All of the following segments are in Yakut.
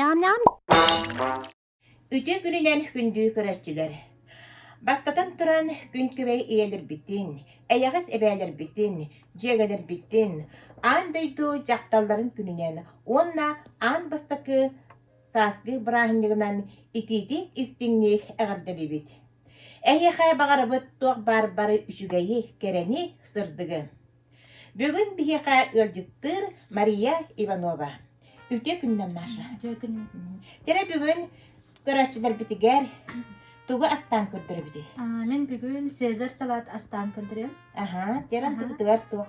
Ням-ням! Үтүө күнүнэн күндүү көрөччүлэр! Бастатан туран, күн күбэй ийэлэрбитин, эйэҕэс эбээлэрбитин, дьиэгэлэрбитин, аан дойду дьахталларын күнүнэн уонна аан бастакы сааскы бырааһынньыгынан итиитик-истиҥник эҕэрдэлиибит. Эһиэхэ баҕарабыт туох баар бары үчүгэйи, кэрэни, сырдыгы. Бүгүн биһиэхэ ыалдьыттыыр Мария Иванова. Үтүө күннэн Маша. Кэрэ бүгүн көрөөччүлэрбитигэр тугу астаан көрдөрөбүтүй? Мин бүгүн Сезар салат астаан көрдөрүөм. Аха, кэрэ ардыбытыгар туох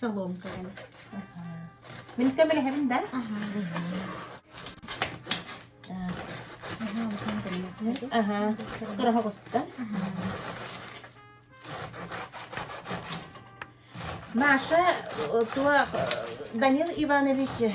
Соломка кэм. Мин көмөлөһөбүн да? Аха. Кыраха куста. Маша, то Данил Иванович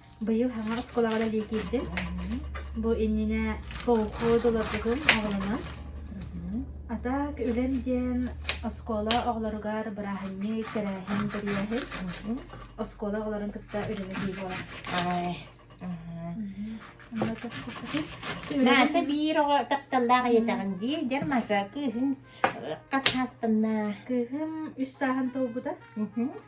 Быйыл хаҥа оскуолаҕа үлэлии киирдим. Бу иннинэ колхоз олорбутум оҕолонон. Атак үлэм диэн оскуола оҕолоругар бырааһынньык, тэрээһин, тэрийээһин. Оскуола оҕолорун кытта үлэлэтии буолар. Ай. Нааса биир оҕо тапталлаах ийэтэҕин дии, дэр Маша, кыыһын хас саастанна? Кыыһым үс сааһын толбута.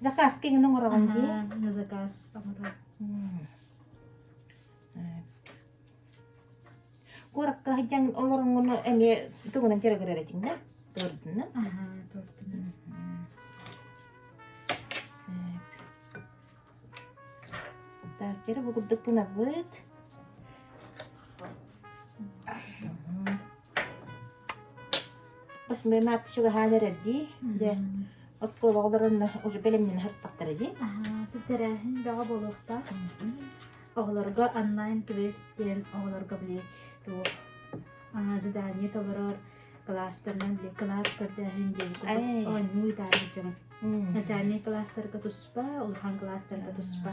Заказ киҥин оҥороҕун дии? На заказ оҥороо. Куоракка сылдьан олоронгуну эмиэ тугунан дьарыгырарытиҥна? Туордунна? Аха, туордунна. Так, дьэрэ бу курдук гынарбыт. Смена ты чугаһаан эрэрдии дьэ оскуолаҕа олорон уже бэлэмнэнэ сырыттахтара дии. Ты тэрээһин бөҕө буолуохтаах. Оҕолорго онлайн квест диэн оҕолорго били туох задание толорор кылаастарынан били кылаас көрдөөһүн диэн курдук оонньуу ыытаары дьон. Начальнай кылаастарга туспа, улахан кылаастарга туспа.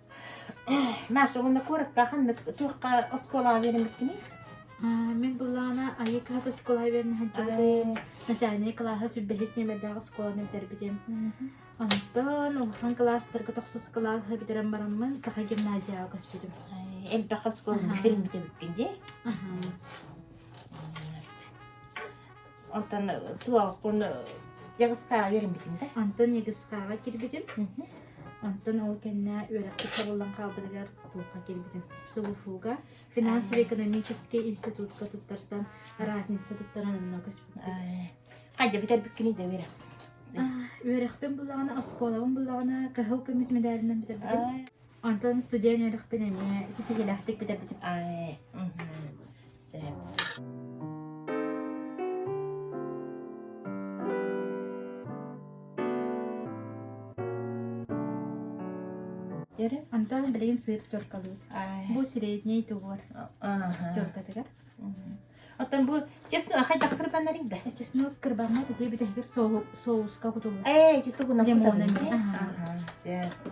Маша, уонна куоракка ханнык туохха оскуолаҕа биэриммиккиний? Мин былаана Айыкаап оскуолаҕа биэрэн сылдьыбытым. Начальнай кылааһа сүрбэһис нүөмэрдээх оскуоланы бүтэрбитим. Онтон улахан кылаастарга тохсус кылаас бүтэрэн бараммын саха гимназияҕа көспүтүм. Элбэх оскуоланы биэриммит эбиппин дии. Онтон туохпун Ягыскаҕа үөрэммитим да. Онтон Ягыскаҕа кирбитим. Онтон ол кэннэ үөрэхпит табыллан хаалбытыгар Тулха кирбитим. СУФУга финансово-экономический институтка туттарсан разница туттаран онно көспүттүм. Хайда бүтэрбиккини да үөрэх. Үөрэхпин буллаҕына, оскуолабын буллаҕына, кыһыл көмүс медалынан бүтэрбитим. Онтон студент үөрэхпин эмиэ ситиһиилээхтик бүтэрбитим. Ай, сөп. Дere, Антон билигин сыыр тёркалыыр. Ай. Бу средний тугур Аха. тёркатыгар. Оттон бу честно ахай да кырбаннарыг да. Чесно кырбанма тиде битehгir соуска кутуллар. Эй, житу гуна лимоны. Аха, сөп.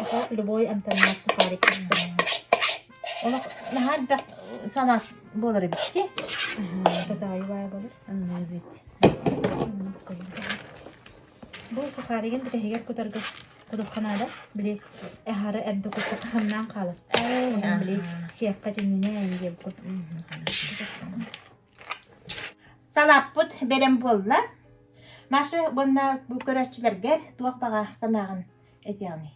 Ити любой амтаннаах сухарик тахсар. Олох наһаа элбэх санаа буолар эбит дии. Татаайы баай болар. Эбит. Бу сухаригын бүтэһигэр кутарга кутупха наада. Били эһары эрдэ кутта хаһаннаан хаалар. Онон били сиэккэ тиннинэ диэн кут. Салаппыт берем буолла. Маша бонна бу көрөөччүлэргэр туох баҕа санааҕын этиэҕиҥ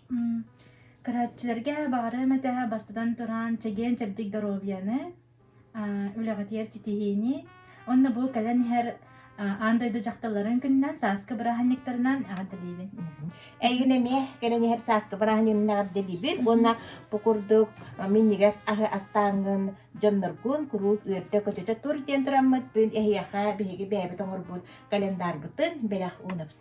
Көрөөччүлэргэ баҕарыам этэ бастатан туран чэгиэн-чэбдик доруобуйаны, үлэҕитигэр ситиһиини уонна бу кэлэн иһэр аан дойду дьахталларын күнүнэн сааскы бырааһынньыктарынан эҕэрдэлиибин. Эйигин эмиэ кэлэн иһэр сааскы бырааһынньыгын эҕэрдэлиибин уонна бу курдук минньигэс аһы астааҥҥын дьонноргун куруук үөртэ-көтүтэ тур диэн тураммытпын эһиэхэ биһиги бэйэбит оҥорбут календарбытын бэлэх уунабыт.